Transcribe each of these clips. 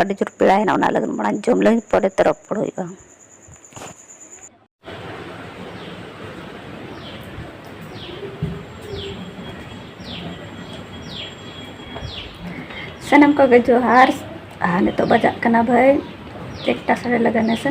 ᱟᱹᱰᱤ ᱡᱳᱨ ᱯᱮᱲᱟ ᱦᱮᱱᱟᱜ ᱚᱱᱟ ᱞᱟᱹᱜᱤᱫ ᱢᱟᱲᱟᱝ ᱡᱚᱢ ᱞᱟᱹᱜᱤᱫ ᱯᱚᱨᱮ ᱛᱮ ᱨᱚᱯᱚᱲ ᱦᱩᱭᱩᱜᱼᱟ ᱥᱟᱱᱟᱢ ᱠᱚᱜᱮ ᱡᱚᱦᱟᱨ ᱟᱨ ᱱᱤᱛᱚᱜ ᱵᱟᱡᱟᱜ ᱠᱟᱱᱟ ᱵᱷᱟᱹᱭ ᱮᱠᱴᱟ ᱥᱟᱲᱮ ᱞᱟᱜᱟᱱ ᱦᱮᱸᱥᱮ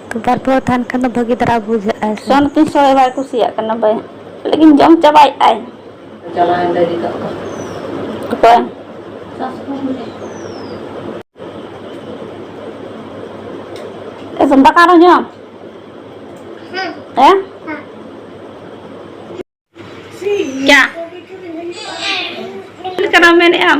ᱵᱟᱨ ᱯᱮ ᱦᱚᱲ ᱛᱟᱦᱮᱱ ᱠᱷᱟᱱ ᱫᱚ ᱵᱷᱟᱹᱜᱤ ᱫᱷᱟᱨᱟ ᱵᱩᱡᱷᱟᱹᱜᱼᱟ᱾ ᱥᱮ ᱥᱚᱱ ᱛᱤᱥ ᱦᱚᱸ ᱵᱟᱭ ᱠᱩᱥᱤᱭᱟᱜ ᱠᱟᱱᱟ ᱵᱟᱭ ᱞᱟᱹᱭ ᱫᱤᱧ ᱡᱚᱢ ᱪᱟᱵᱟᱭᱮᱫ ᱟᱭ᱾ ᱚᱠᱚᱭ ᱮ ᱥᱚᱱ ᱫᱟᱠᱟ ᱟᱨᱦᱚᱸ ᱡᱚᱢ ᱦᱮᱸ ᱪᱟ ᱪᱮᱫ ᱞᱮᱠᱟᱱᱟᱜ ᱢᱮᱱᱮᱫ ᱟᱢ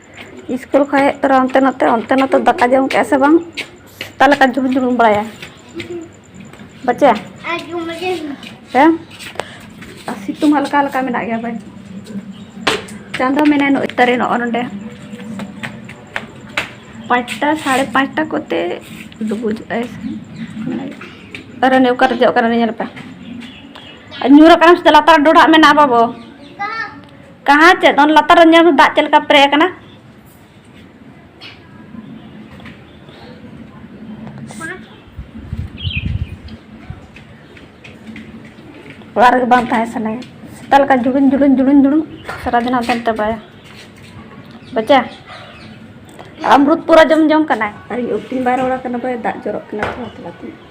ᱤᱥᱠᱩᱞ ᱠᱷᱚᱱ ᱦᱮᱡ ᱛᱚᱨᱟ ᱚᱱᱛᱮ ᱱᱚᱛᱮ ᱚᱱᱛᱮ ᱱᱚᱛᱮ ᱫᱟᱠᱟ ᱡᱚᱢ ᱠᱮᱜᱼᱟ ᱥᱮ ᱵᱟᱝ ᱥᱮᱛᱟ ᱞᱮᱠᱟ ᱡᱩᱞᱩᱢ ᱡᱩᱞᱩᱢ ᱵᱟᱲᱟᱭᱟ ᱵᱟᱪᱟ ᱦᱮᱸ ᱟᱨ ᱥᱤᱛᱩᱝ ᱦᱟᱞᱠᱟ ᱦᱟᱞᱠᱟ ᱢᱮᱱᱟᱜ ᱜᱮᱭᱟ ᱵᱟᱭ ᱪᱟᱸᱫᱚ ᱢᱮᱱᱟᱭ ᱱᱚᱜᱼᱚᱭ ᱛᱟᱨᱮ ᱱᱚᱜᱼᱚ ᱱᱚᱰᱮ ᱯᱟᱸᱪᱴᱟ ᱥᱟᱲᱮ ᱯᱟᱸᱪᱴᱟ ᱠᱚᱛᱮ ᱰᱩᱵᱩᱡ ᱟᱭ ᱟᱨ ᱱᱤᱭᱟᱹ ᱚᱠᱟᱨᱮ ᱡᱚᱜ ᱠᱟᱱᱟ ᱧᱮᱞ ᱯᱮ ᱧᱩᱨ ᱟᱠᱟᱱᱟ ᱥᱮ ᱞᱟᱛᱟᱨ ᱰᱚᱰᱷᱟᱜ ᱢᱮᱱᱟᱜᱼᱟ ᱵᱟᱵᱚ ᱠᱟᱦᱟ ᱪᱮᱫ ᱚᱱ ᱞᱟᱛᱟᱨ ᱧᱮᱞ ᱢᱮ ᱫᱟᱜ ᱪᱮᱫ ᱞᱮᱠᱟ ᱯᱮᱨᱮᱡ ᱟᱠᱟᱱᱟ ᱚᱲᱟᱜ ᱨᱮᱜᱮ ᱵᱟᱝ ᱛᱟᱦᱮᱸ ᱥᱟᱱᱟᱭᱟ ᱥᱮᱛᱟ ᱞᱮᱠᱟ ᱡᱩᱲᱩᱱ ᱡᱩᱲᱩᱱ ᱡᱩᱲᱩᱱ ᱡᱩᱲᱩᱱ ᱥᱟᱨᱟᱫᱤᱱ ᱦᱟᱱᱛᱮ ᱱᱟᱛᱮ ᱵᱟᱭᱟ ᱵᱟᱪᱟ ᱟᱢᱨᱩᱫ ᱯᱩᱨᱟᱹ ᱡᱚᱢ ᱡᱚᱢ ᱠᱟᱱᱟᱭ ᱟᱨ ᱛᱤᱱ ᱵᱟᱭ ᱨᱚᱲ ᱠᱟᱱᱟ ᱵᱟᱭ ᱫᱟᱜ ᱡᱚᱨᱚᱜ ᱠᱟᱱᱟ ᱛᱷᱚᱲᱟ ᱛᱷᱚᱲᱟ ᱛᱮ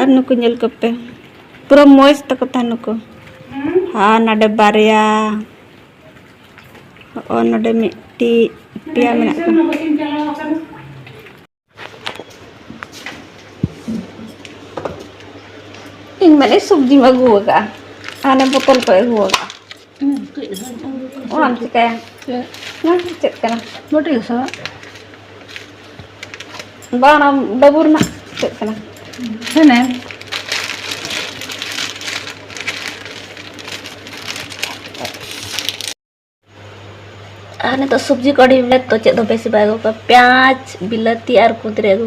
ᱟᱨ ᱱᱩᱠᱩ ᱧᱮᱞ ᱠᱚᱯᱮ ᱯᱩᱨᱟᱹ ᱢᱚᱡᱽ ᱛᱟᱠᱚ ᱛᱟᱦᱮᱸ ᱱᱩᱠᱩ ᱟᱨ ᱱᱚᱰᱮ ᱵᱟᱨᱭᱟ ᱚ ᱱᱚᱰᱮ ᱢᱤᱫᱴᱤᱡ ᱯᱮᱭᱟ ᱢᱮᱱᱟᱜ ᱠᱚᱣᱟ ᱤᱧ ᱢᱟᱱᱮ ᱥᱚᱵᱽᱡᱤᱢ ᱟᱹᱜᱩ ᱟᱠᱟᱫᱼᱟ ᱦᱟᱱᱮ ᱵᱚᱛᱚᱞ ᱠᱚ ᱟᱹᱜᱩ ᱟᱠᱟᱫᱼᱟ ᱚᱱᱟᱢ ᱪᱤᱠᱟᱹᱭᱟ ᱱᱚᱣᱟ ᱫᱚ ᱪᱮᱫ ᱠᱟᱱᱟ ᱵᱟᱹᱴᱤ ᱜᱷᱟᱥᱟᱣ ᱵᱟᱝ ᱚᱱᱟ ᱵᱟᱹᱵᱩ ᱨᱮᱱᱟᱜ ᱪᱮᱫ ᱠᱟᱱᱟ ᱦᱮᱱᱮᱢ ᱟᱨ ᱱᱤᱛᱚᱜ ᱥᱚᱵᱽᱡᱤ ᱠᱚ ᱟᱹᱰᱤ ᱵᱮᱥ ᱛᱚ ᱪᱮᱫ ᱫᱚ ᱵᱮᱥᱤ ᱵᱟᱭ ᱟᱹᱜᱩ ᱠᱟᱜᱼᱟ ᱯᱮᱸᱭᱟᱡᱽ ᱵᱤᱞᱟᱹᱛᱤ ᱟᱨ ᱠᱩᱸᱫᱽᱨᱤ ᱟᱹᱜᱩ